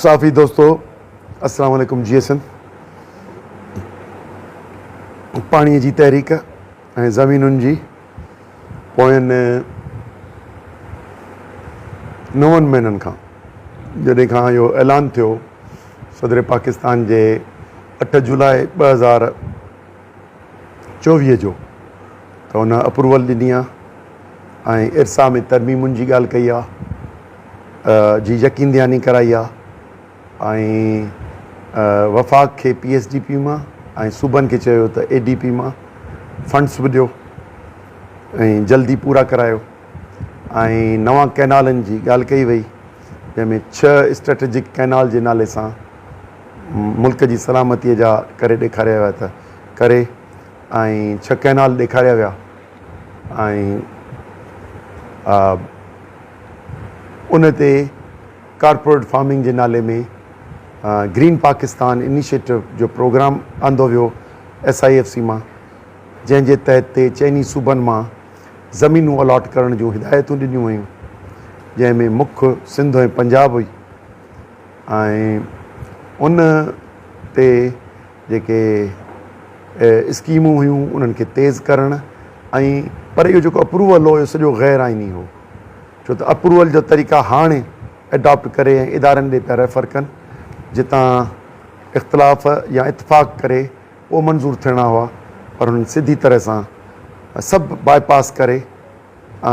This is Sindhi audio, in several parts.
صحافي دوستو السلام عليڪم جيئي سنڌ پاڻي جي تحريڪ ۽ زمينن جي پوين نون مهينن کان جڏهن کان اهو اعلان ٿيو صدر پاڪستان جي اٺ جولاء ٻه هزار چوويهه جو ته ان اپروول ڏني آهي ۽ ارسا ۾ ترميمن جي ڳالهه ڪئي آهي جي يقين دهاني ڪرائي آهي ۽ وفاق کي پي ايس ڊي پي مان ۽ صوبن کي چيو ته اي ڊي پي مان فنڊس به ڏيو ۽ جلدي پورا ڪرايو ۽ نوان ڪئنالن جي ڳالهه ڪئي وئي جنهن ۾ ڇهه اسٽريٽجڪ ڪئنال جي نالي سان ملڪ جي سلامتي جا ڪري ڏيکاريا ويا ته ڪري ۽ ڇهه ڪئنال ڏيکاريا ويا ۽ ان تي ڪارپوريٽ فارمنگ جي نالي ۾ گرين پاڪستان انيشيٽو جو پروگرام آندو ويو ايس آء ايف سي مان جنهن جي تحت تي چئني صوبن مان زمينون الاٽ ڪرڻ جون هدايتون ڏنيون ويون جنهن ۾ مک سنڌ ۽ پنجاب هئي ۽ ان تي جيڪي اسڪيمون هيون انهن کي تيز ڪرڻ ۽ پر اهو جيڪو اپروول هو اهو سڄو غير آئيني هو ڇو ته اپروول جا طريقا هاڻي اڊاپٽ ڪري ۽ ادارن ڏي پيا ريفر ڪن جتان اختلاف يا اتفاق ڪري پوء منظور ٿيڻا هئا پر هنن سڌي طرح سان سڀ باء پاس ڪري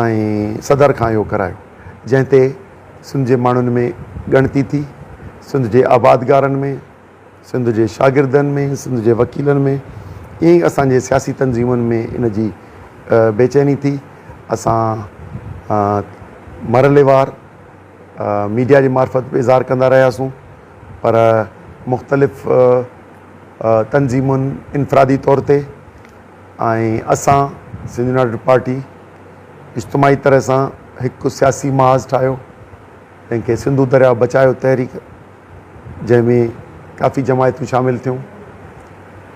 ۽ صدر کان اهو ڪرايو جنهن تي سنڌ جي ماڻهن ۾ ڳڻتي ٿي سنڌ جي آبادگارن ۾ سنڌ جي شاگردن ۾، سنڌ جي وڪيلن ۾، ائين ئي اسان جي سياسي تنظيمن ۾ ان جي بيچيني ٿي. اسان مرحلي وار ميڊيا جي معرفت به اظهار ڪندا رهياسون پر مختلف تنظيمن انفرادي طور تي ۽ اسان سنڌ يونائيٽيڊ پارٽي اجتماعي طرح سان هڪ سياسي محاذ ٺاهيو تنهن کي سنڌو درياء بچايو تحريڪ جنهن ۾ ڪافي جماعتون شامل ٿيون.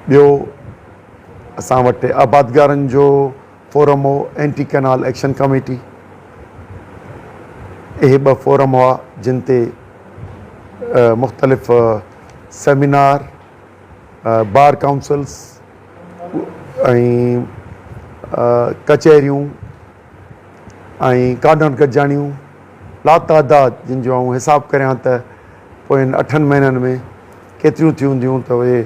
ٻيو اسان وٽ آبادگارن جو فورم هو اينٽي ڪئنال ايڪشن ڪميٽي. اهي ٻه فورم هئا جن تي مختلف سيمينار، بار ڪائونسلز ۽ ڪچهريون، ۽ ڪانڊون گڏجاڻيون لاتعداد جن جو آئون حساب ڪريان ته پوين اٺن مهينن ۾ ڪيتريون ٿيون هونديون ته اهي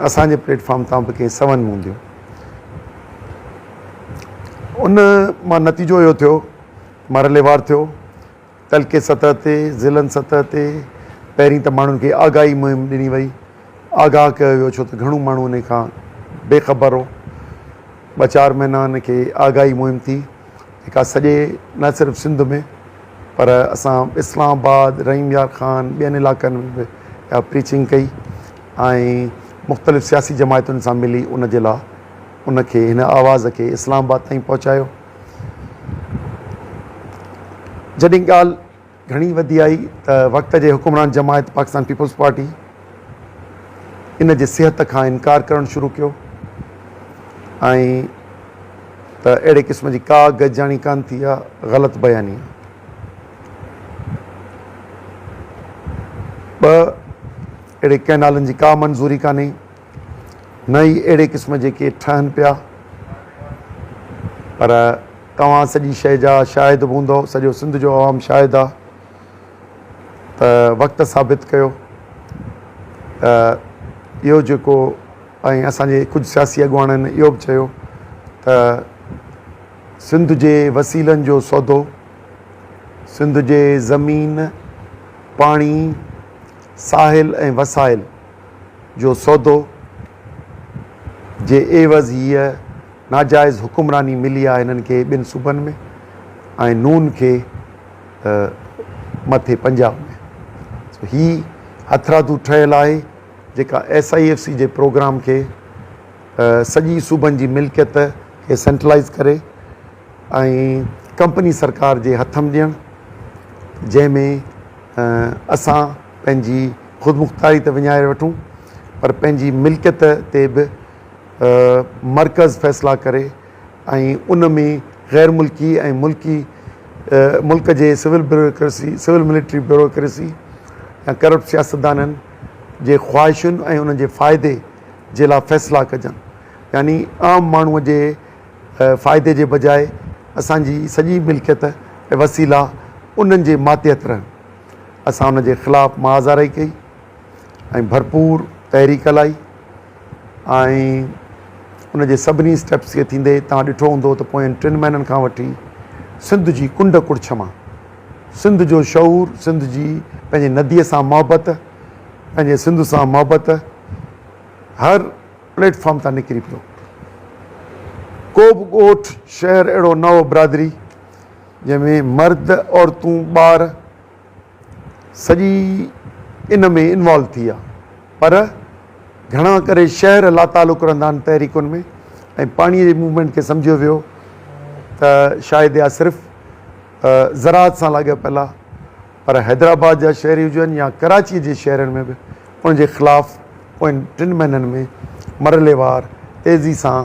اسان جي پليٽ فارم تان به ڪنهن سون ۾ هونديون ان مان نتيجو اهو ٿيو مرحليوار ٿيو تعلقي سطح تي، ضلعن سطح تي پهرين ته ماڻهن کي آگاهي مهم ڏني وئي، آگاهه ڪيو ويو ڇو ته گهڻو ماڻهو انهي کان بي خبر هو. ٻه چار مهينا ان کي آگاهي مهم ٿي جيڪا سڄي نه صرف سنڌ ۾ پر اسان اسلام آباد، رحيم يار خان، ٻين علاقن ۾ به اها پريچنگ ڪئي ۽ مختلف سياسي جماعتن سان ملي ان جي لا ان کي هن آواز کي اسلام آباد تائين پهچايو. جڏهن ڳالهه گهڻي وڌي آئي ته وقت جي حڪمران جماعت پاڪستان پيپلز پارٽي ان جي صحت کان انڪار ڪرڻ شروع ڪيو ۽ ته اهڙي قسم جي ڪا گجاڻي ڪان ٿي يا غلط بياني ٻه اهڙي ڪئنالن جي ڪا منظوري ڪانهي نه ئي اهڙي قسم جي ڪي ٺهن پيا پر توهان سڄي شيء جا شاهد به هوندؤ سڄو سنڌ جو عوام شاهد آ ته وقت ثابت ڪيو ته اهو جيڪو ۽ اسان جي ڪجهه سياسي اڳواڻن اهو به چيو ته سنڌ جي وسيلن جو سودو سنڌ جي زمين پاڻي ساحل ۽ وسائل جو سودو جي عيوض هيء ناجائز حڪمراني ملي آهي هنن کي ٻن صوبن ۾ ۽ نون کي مٿي پنجاب ۾ سو هي هٿرادو ٺهيل آهي جيڪا ايس آئي ايف سي جي پروگرام کي سڄي صوبن جي ملڪيت کي سينٽرلائز ڪري ۽ ڪمپني سرڪار جي هٿ م ڏيڻ جنهن ۾ اسان پنهنجي خودمختاري ته وڃائي وٺون پر پنهنجي ملڪيت تي به مرڪز فيصلا ڪري ۽ ان ۾ غير ملڪي ۽ ملڪي ملڪ جي civil bureaucracy, civil military bureaucracy يا ڪرپٽ سياستدانن جي خواهشن ۽ انهن جي فائدي جي لاء فيصلا ڪجن يعني عام ماڻهو جي فائدي جي بجاء اسان جي سڄي ملڪيت ۽ وسيلا انهن جي ماتحت رهن. اسان ان جي خلاف محاذاري ڪئي ۽ ڀرپور تحريڪ هلائي ۽ ان جي سڀني اسٽيپس کي ٿيندي توهان ڏٺو هوندو ته پوين ٽن مهينن کان وٺي سنڌ جي ڪنڊ ڪڙڇ مان سنڌ جو شعور سنڌ جي پنهنجي نديء سان محبت پنهنجي سنڌ سان محبت هر پليٽ فارم تان نڪري پيو ڪو به ڳوٺ شهر اهڙو نه هو برادري جنهن ۾ مرد عورتون ٻار سڄي ان ۾ انوالو ٿي ويا پر گهڻا ڪري شهر لاتعلق رهندا آهن تحريڪن ۾ ۽ پاڻي جي موومينٽ کي سمجهيو ويو ته شايد يا صرف زراعت سان لاڳاپيل آهي پر حيدرآباد جا شهري هجن يا ڪراچي جي شهرن ۾ به ان جي خلاف پوين ٽن مهينن ۾ مرحليوار تيزي سان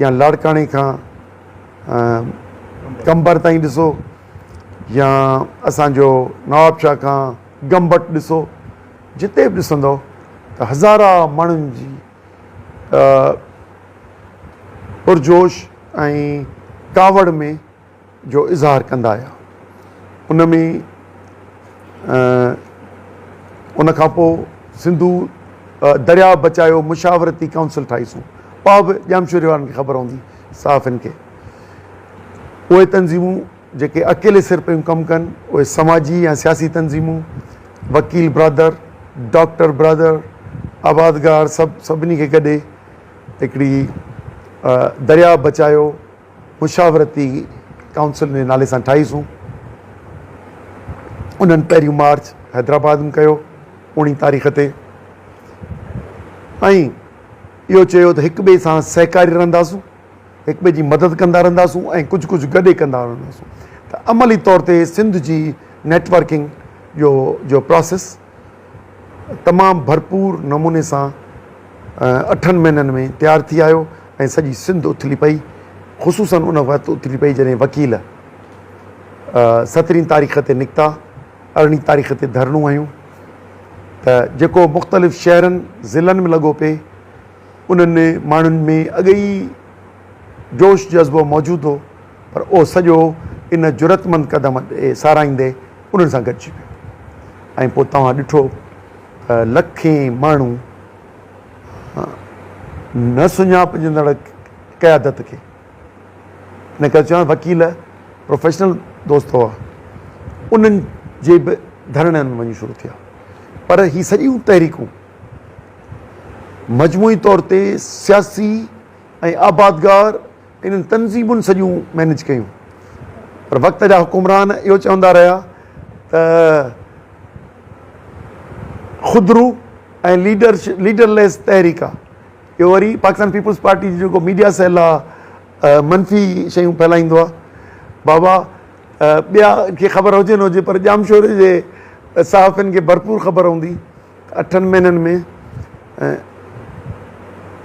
يا لاڙڪاڻي کان قمبر تائين ڏسو يا اسانجو نوابشاهه کان گمبٽ ڏسو جتي به ڏسندو ته هزارا ماڻهن جي پرجوش ۽ ڪاوڙ ۾ جو اظهار ڪندا آيا ان ۾ ان کان پوء سنڌو درياء بچايو مشاورتي ڪائونسل ٺاهي سون اها به ڄامشوري وارن کي خبر هوندي صحافين کي اهي تنظيمون جيڪي اڪيلي سر پيون ڪم ڪن اهي سماجي يا سياسي تنظيمون وڪيل برادر ڊاڪٽر برادر آبادگار سڀ سڀني کي گڏي هڪڙي درياء بچايو مشاورتي ڪائونسل جي نالي سان ٺاهي سون انهن پهريون مارچ حيدرآباد ۾ ڪيو اوڻي تاريخ تي ۽ اهو چيو ته هڪ ٻئي سان سهڪاري رهنداسون هڪ ٻئي جي مدد ڪندا رهنداسون ۽ ڪجهه ڪجهه گڏي ڪندا رهنداسون ته عملي طور تي سنڌ جي نيٽورڪنگ جو جو پروسيس تمام ڀرپور نموني سان اٺن مهينن ۾ تيار ٿي آيو ۽ سڄي سنڌ اٿلي پئي خصوصن ان وقت اٿلي پئي جڏهن وڪيل سترهين تاريخ تي نڪتا ارڙهين تاريخ تي ڌرڻو هنيون ته جيڪو مختلف شهرن ضلعن ۾ لڳو پئي انهن ماڻهن ۾ اڳ ئي جوش جذبو موجود هو پر اهو سڄو ان جرئتمند قدم ڏي ساراهيندي انهن سان گڏجي ويو ۽ پوء توهان ڏٺو ته لکين ماڻهو نه سڃاپجندڙ قيادت کي ان ڪري چوان وڪيل پروفيشنل دوست هئا انهن جي به ڌرڻن ۾ وڃي شروع ٿيا پر هي سڄيون تحريڪون مجموعي طور تي سياسي ۽ آبادگار انهن تنظيمن سڄيون مئنيج ڪيون پر وقت جا حڪمران اهو چوندا رهيا ته خودرو ۽ ليڊر ليڊر ليس تحريڪ آ اهو وري پاڪستان پيپلز پارٽي جو جيڪو ميڊيا سيل آ منفي شيون ڦهلائيندو آ بابا ٻيا کي خبر هجي نه هجي پر ڄامشوري جي صحافين کي ڀرپور خبر هوندي اٺن مهينن ۾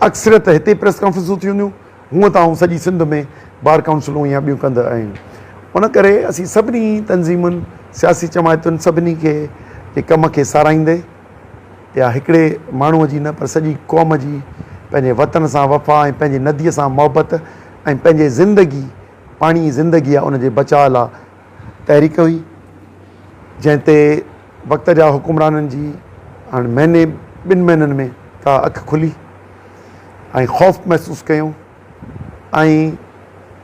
اڪثريت هتي ئي پريس ڪانفرنسون ٿيون هونديون، هونء ته آئون سڄي سنڌ ۾ بار ڪائونسلون يا ٻيون ڪندڙ آهيون، ان ڪري اسين سڀني تنظيمن، سياسي جماعتن سڀني کي جي ڪم کي ساراهيندي يا هڪڙي ماڻهوء جي نه پر سڄي قوم جي پنهنجي وطن سان وفا ۽ پنهنجي نديء سان محبت ۽ پنهنجي زندگي پاڻي ئي زندگي آهي ان جي بچاء لا تحريڪ هئي جنهن تي وقت جا حڪمرانن جي هاڻ مهيني ٻن مهينن ۾ ڪا اک کلي ۽ خوف محسوس ڪيو ۽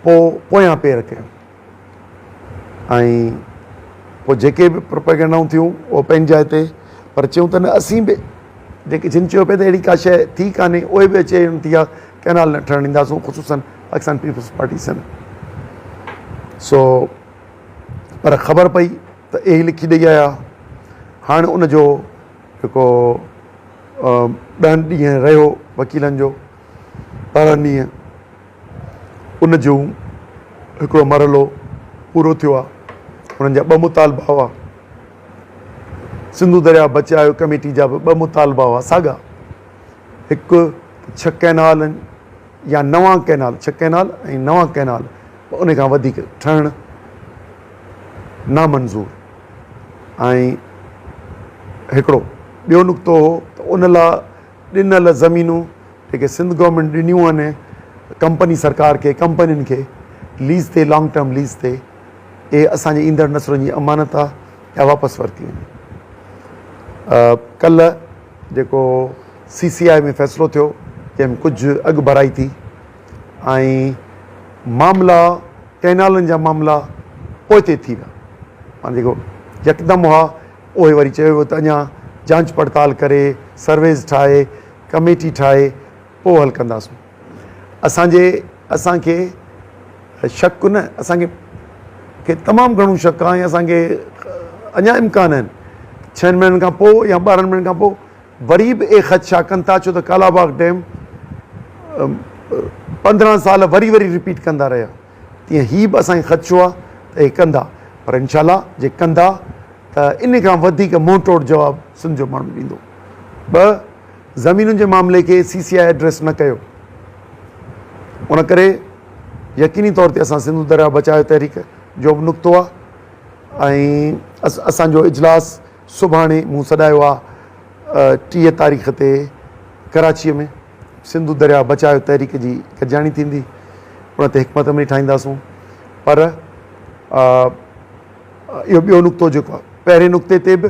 پو پويان پير ڪيو ۽ پو جيڪي به پروپيگنڊائون ٿيون او پنهنجي جاء تي پر چيون ته نه اسين به جيڪي جن چيو پئي ته اهڙي ڪا شيء ٿي ڪانهي اهي به اچي ٿيا ڪئنال نه ٺهڻ ڏينداسون خصوصن پاڪستان پيپلز پارٽي سنڌ سو پر خبر پئي ته اهي لکي ڏئي آيا هاڻي ان جو جيڪو ڏهن ڏينهن رهيو وڪيلن جو ٻارهن ڏينهن ان جو هڪڙو مرحلو پورو ٿيو آ انهن جا ٻه مطالبا هئا سنڌو درياء بچايو ڪميٽي جا به ٻه مطالبا هئا ساڳا هڪ ڇهه ڪئنالن يا نوان ڪئنال، ڇهه ڪئنال ۽ نوان ڪئنال به انهي کان وڌيڪ، ٺهڻ نامنظور آهي. هڪڙو ٻيو نقطو هو ته ان لاء ڏنل زمينون جيڪي سنڌ گورنمينٽ ڏنيون آهن ڪمپني سرڪار کي، ڪمپنين کي ليز تي، لانگ ٽرم ليز تي، اهي اسان جي ايندڙ نسلن جي امانت آهي يا واپس ورتيون وڃن. ڪلهه. جيڪو سي سي آء ۾ فيصلو ٿيو جنهن ۾ ڪجهه اڳڀرائي ٿي ۽ معاملا ڪئنالن جا معاملا پوئتي ٿي ويا معنيٰ جيڪو يڪدم هئا اهي وري چيو ويو ته اڃا جانچ پڙتال ڪري سرويز ٺاهي ڪميٽي ٺاهي پوء حل ڪنداسون. اسان جي اسان کي شڪ نه اسان کي کي تمام گهڻو شڪ آهي ۽ اسان کي اڃا امڪان آهن ڇهن مهينن کان پوء يا ٻارهن مهينن کان پوء وري به اهي خدشا ڪن ٿا ڇو ته ڪالا باغ ڊيم پندرهن سال وري وري رپيٽ ڪندا رهيا تيئن هي به اسان کي خدشو آهي ته اهي ڪندا پر انشاء الله جي ڪندا ته ان کان وڌيڪ منهن ٽوڙ جواب سنڌ جو ماڻهو ڏيندو ٻه زمينن جي معاملي کي سي سي آء ايڊريس نه ڪيو ان ڪري يقيني طور تي اسان سنڌو درياء بچايو تحريڪ جو به نقطو آ ۽ اسان جو اجلاس سڀاڻي مون سڏايو آ ٽيهه تاريخ تي ڪراچي ۾ سنڌو درياء بچايو تحريڪ جي گڏجاڻي ٿيندي ان تي حڪمت عملي ٺاهينداسون پر اهو ٻيو نقطو جيڪو آ پهرين نقطي تي به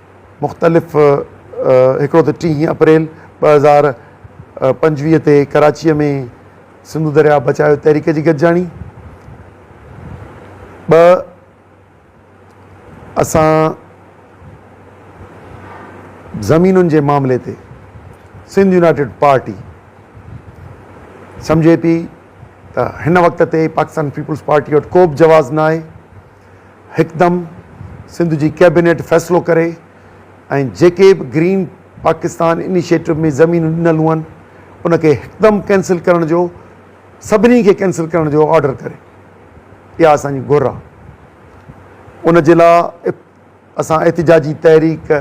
مختلف هڪڙو ته ٽيهين اپريل ٻه هزار پنجويهه تي ڪراچيء ۾ سنڌو درياهه بچايو تحريڪ جي گڏجاڻي، ٻه اسان زمينن جي معاملي تي سنڌ يونائيٽيڊ پارٽي سمجهي پي ته هن وقت تي پاڪستان پيپلز پارٽي وٽ ڪوبه جواز ناهي، هڪدم سنڌ جي ڪيبينيٽ فيصلو ڪري ۽ جيڪي به گرين پاڪستان انيشيٽو ۾ زمينون ڏنل هئن ان کي هڪدم ڪينسل ڪرڻ جو سڀني کي ڪينسل ڪرڻ جو آرڊر ڪري اها اسان جي گهر آهي ان جي لاء اسان احتجاجي تحريڪ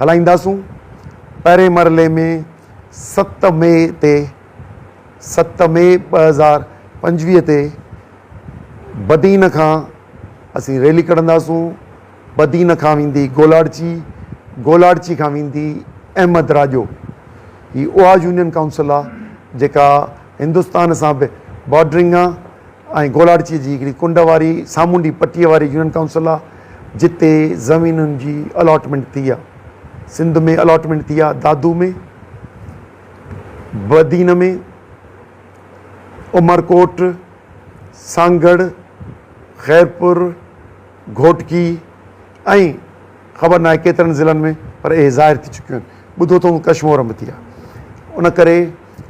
هلائينداسون، پهرين مرحلي ۾ ست مئي تي ست مئي ٻه هزار پنجويهه تي بدين کان اسين ريلي ڪڍنداسون، بدين کان ويندي گولاڙچي، گولاڙچي کان ويندي احمد راڄو، هي اها يونين ڪائونسل آ جيڪا هندستان سان به بارڊرنگ آ ۽ گولاڙچي جي هڪڙي ڪنڊ واري سامونڊي پٽي واري يونين ڪائونسل آ. جتي زمينن جي الاٽمينٽ ٿي آ سنڌ ۾ الاٽمينٽ ٿي آ دادو ۾ بدين ۾ عمرڪوٽ سانگهڙ خيرپور گهوٽڪي ۽ خبر ناهي ڪيترن ضلعن ۾ پر اهي ظاهر ٿي چڪيون آهن ٻڌو اٿئون ڪشمور ۾ به ٿي آ ان ڪري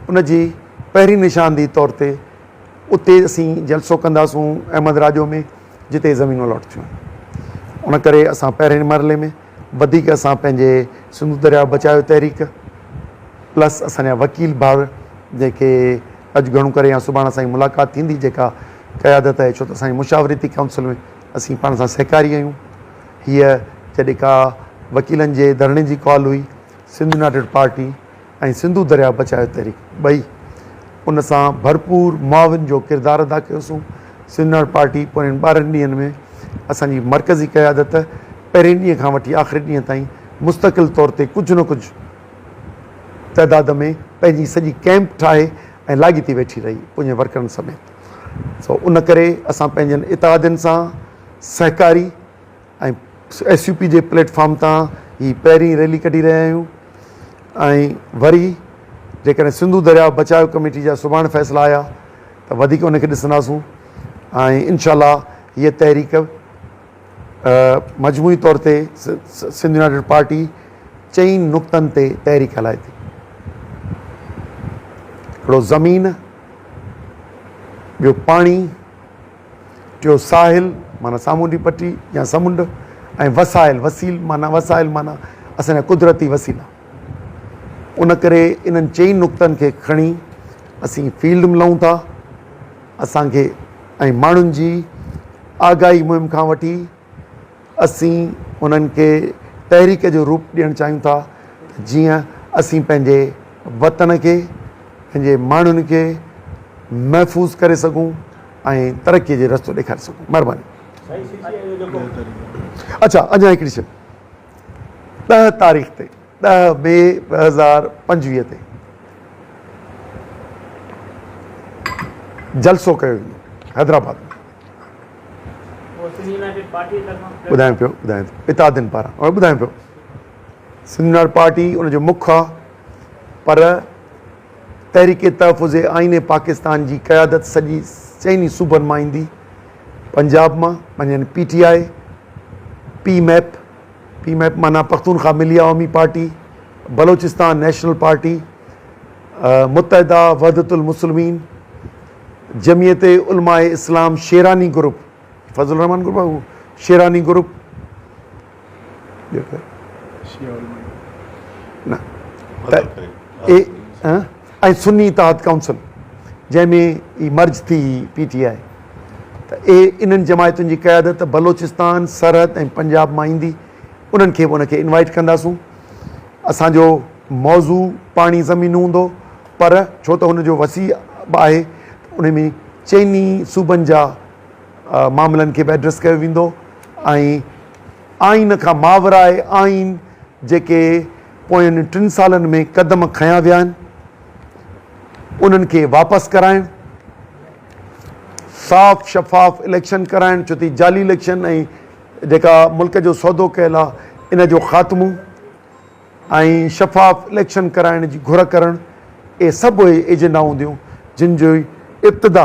ان جي پهرين نشاندهي طور تي اتي اسين جلسو ڪنداسون احمد راڄو ۾ جتي زمينون الاٽ ٿيون آهن ان ڪري اسان پهرين مرحلي ۾ وڌيڪ اسان پنهنجي سنڌو درياء بچايو تحريڪ پلس اسان جا وڪيل ڀائر جيڪي اڄ گهڻو ڪري يا سڀاڻي اسان جي ملاقات ٿيندي جيڪا قيادت آهي ڇو ته اسان جي مشاورتي ڪائونسل ۾ اسين پاڻ سان سهڪاري آهيون هيء جڏهن ڪا وڪيلن جي ڌرڻي جي ڪال هئي سنڌ يونائيٽيڊ پارٽي ۽ سنڌو درياء بچايو تحريڪ ٻئي ان سان ڀرپور معاون جو ڪردار ادا ڪيو سون سنڌ پارٽي پوين ٻارهن ڏينهن ۾ اسان جي مرڪزي قيادت پهرين ڏينهن کان وٺي آخري ڏينهن تائين مستقل طور تي ڪجهه نه ڪجهه تعداد ۾ پنهنجي سڄي ڪئمپ ٺاهي ۽ لاڳيتي ويٺي رهي پوين ورڪرن سميت سو ان ڪري اسان پنهنجن اتحادين سان سهڪاري ۽ ايس يو پي جي پليٽ فارم تان هي پهرين ريلي ڪڍي رهيا آهيون ۽ وري جيڪڏهن سنڌو درياء بچاء ڪميٽي جا سڀاڻ فيصلا آيا ته وڌيڪ ان کي ڏسنداسون ۽ انشاء الله هيء تحريڪ مجموعي طور تي سنڌ يونائيٽيڊ پارٽي چئين نقطن تي تحريڪ هلائي ٿي هڪڙو زمين ٻيو پاڻي ٽيون ساحل معنيٰ سامونڊي پٽي يا سمنڊ ۽ وسائل، وسيل معنيٰ وسائل معنيٰ اسان جا قدرتي وسيلا. ان ڪري انهن چئي نقطن کي کڻي اسين فيلڊ ملون ٿا. اسان کي ۽ ماڻهن جي آگاهي مهم کان وٺي اسين انهن کي تحريڪ جو روپ ڏيڻ چاهيون ٿا ته جيئن اسين پنهنجي وطن کي، پنهنجي ماڻهن کي محفوظ ڪري سگهون ۽ ترقي جي رستو ڏيکاري سگهون. مهرباني. اڇا اڃا هڪڙي شئي ڏهه تاريخ تي. ڏهه مئي ٻه هزار پنجويهه تي جلسو ڪيو ويندو حيدرآباد ۾ ٻڌايو پيو اتحادين پاران هاڻي ٻڌايو پيو سنڌ يونائيٽيڊ پارٽي ان جو مک آهي پر تحريڪ تحفظ آئين پاڪستان جي قيادت سڄي چئني صوبن مان ايندي پنجاب مان پنهنجن P T I P MAP P MAP معنيٰ پختونخوا ملي عوامي پارٽي، بلوچستان نيشنل پارٽي، متحده وحدت المسلمين، جمعيت علماء اسلام شيراني گروپ، فضل الرحمان گروپ آهي اهو، شيراني گروپ، ٻيو ڪير؟ شيعه علماء نه، اي، ها؟ ۽ سني اتحاد ڪائونسل جنهن ۾ ئي مرج ٿي هئي پي ٽي آء ته اهي انهن جماعتن جي قيادت بلوچستان سرحد ۽ پنجاب مان ايندي انهن کي به ان کي انوائيٽ ڪنداسون اسان جو موضوع پاڻي زمين هوندو پر ڇو ته هن جو وسيع به آهي ته ان ۾ چئني صوبن جا معاملن کي به ايڊريس ڪيو ويندو ۽ آئين کان ماورائي آئين جيڪي پوين ٽن سالن ۾ قدم کنيا ويا آهن انهن کي واپس ڪرائڻ، صاف شفاف اليڪشن ڪرائڻ ڇو ته جعلي اليڪشن ۽ جيڪا ملڪ جو سودو ڪيل آهي ان جو خاتمو ۽ شفاف اليڪشن ڪرائڻ جي گهر ڪرڻ اهي سڀ اهي ايجنڊا هونديون جن جي ابتدا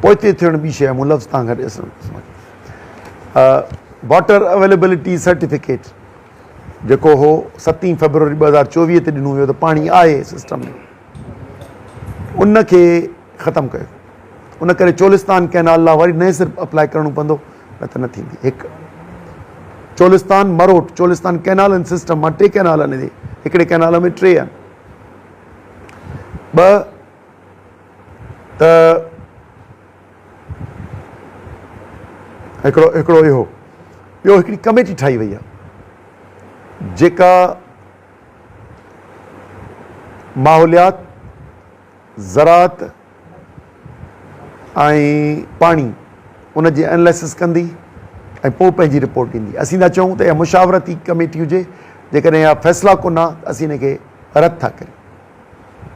پوئتي ٿيڻ ٻي شيء مون لفظ تان گهٽ اسم اسم ڪي واٽر اويليبلٽي سرٽيفڪيٽ جيڪو هو ستين فيبروري ٻه هزار چوويهه تي ڏنو ويو ته پاڻي آهي سسٽم ۾ ان کي ختم ڪيو ان ڪري چولستان ڪينال لا وري نئين سر اپلاء ڪرڻو پوندو نه ته نه ٿيندي هڪ چولستان مروٽ چولستان ڪينال ان سسٽم مان ٽي ڪينال آهن هڪڙي ڪينال ۾ ٽي آهن ٻه ته هڪڙو هڪڙو اهو ٻيو هڪڙي ڪميٽي ٺاهي وئي آهي جيڪا ماحوليات زراعت ۽ پاڻي ان جي اناليسس ڪندي ۽ پوء پنهنجي رپورٽ ڏيندي اسين ٿا چئون ته اها مشاورتي ڪميٽي هجي جيڪڏهن اها فيصلا ڪنا ته اسين ان کي رد ٿا ڪريون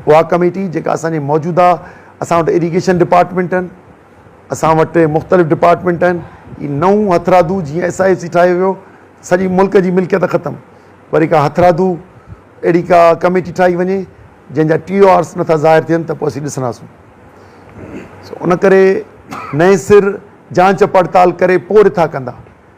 اها ڪميٽي جيڪا اسان جي موجوده اسان وٽ اريگيشن ڊپارٽمينٽ آهن اسان وٽ مختلف ڊپارٽمينٽ آهن هي نئون هٿرادو جيئن ايس آء ايف سي ٺاهيو ويو سڄي ملڪ جي ملڪيت ختم وري ڪا هٿرادو اهڙي ڪا ڪميٽي ٺاهي وڃي جنهن جا ٽي او آرس نٿا ظاهر ٿين ته پوء اسين ڏسنداسون سو ان ڪري نئين سر جانچ پڙتال ڪري پوء رٿا ڪندا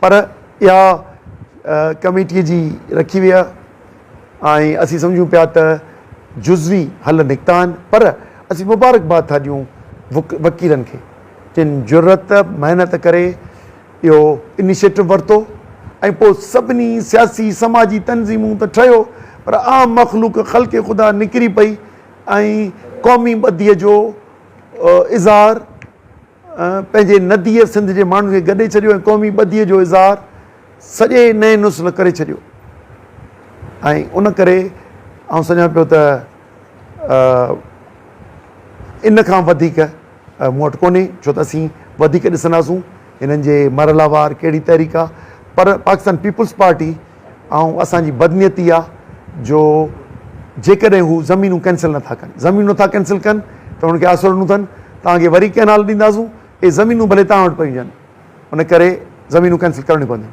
پر اها ڪميٽيء جي رکي ويئي آهي ۽ اسين سمجهون پيا ته جزوي حل نڪتا آهن پر اسين مبارڪباد ٿا ڏيون وڪيلن کي جن جرئت محنت ڪري اهو انيشيٽو ورتو ۽ پوء سڀني سياسي سماجي تنظيمون ته ٺهيو پر عام مخلوق خلق خدا نڪري پئي ۽ قومي ٻڌيء جو اظهار پنهنجي نديء سنڌ جي ماڻهن کي گڏي ڇڏيو ۽ قومي ٻڌيء جو اظهار سڄي نئين نسل ڪري ڇڏيو ۽ ان ڪري آئون سمجهان پيو ته ان کان وڌيڪ مون وٽ ڪونهي ڇو ته اسين وڌيڪ ڏسنداسون هنن جي مرحلا وار ڪهڙي تحريڪ آهي پر پاڪستان پيپلز پارٽي ۽ اسان جي بدنيتي آ جو جيڪڏهن هو زمينون ڪينسل نه ٿا ڪن زمينون نه ٿا ڪينسل ڪن ته انهن کي آسرو ڏنو اٿن توهان کي وري ڪئنال ڏينداسون اهي زمينون ڀلي توهان وٽ پيون هجن ان ڪري زمينون ڪينسل ڪرڻيون پونديون.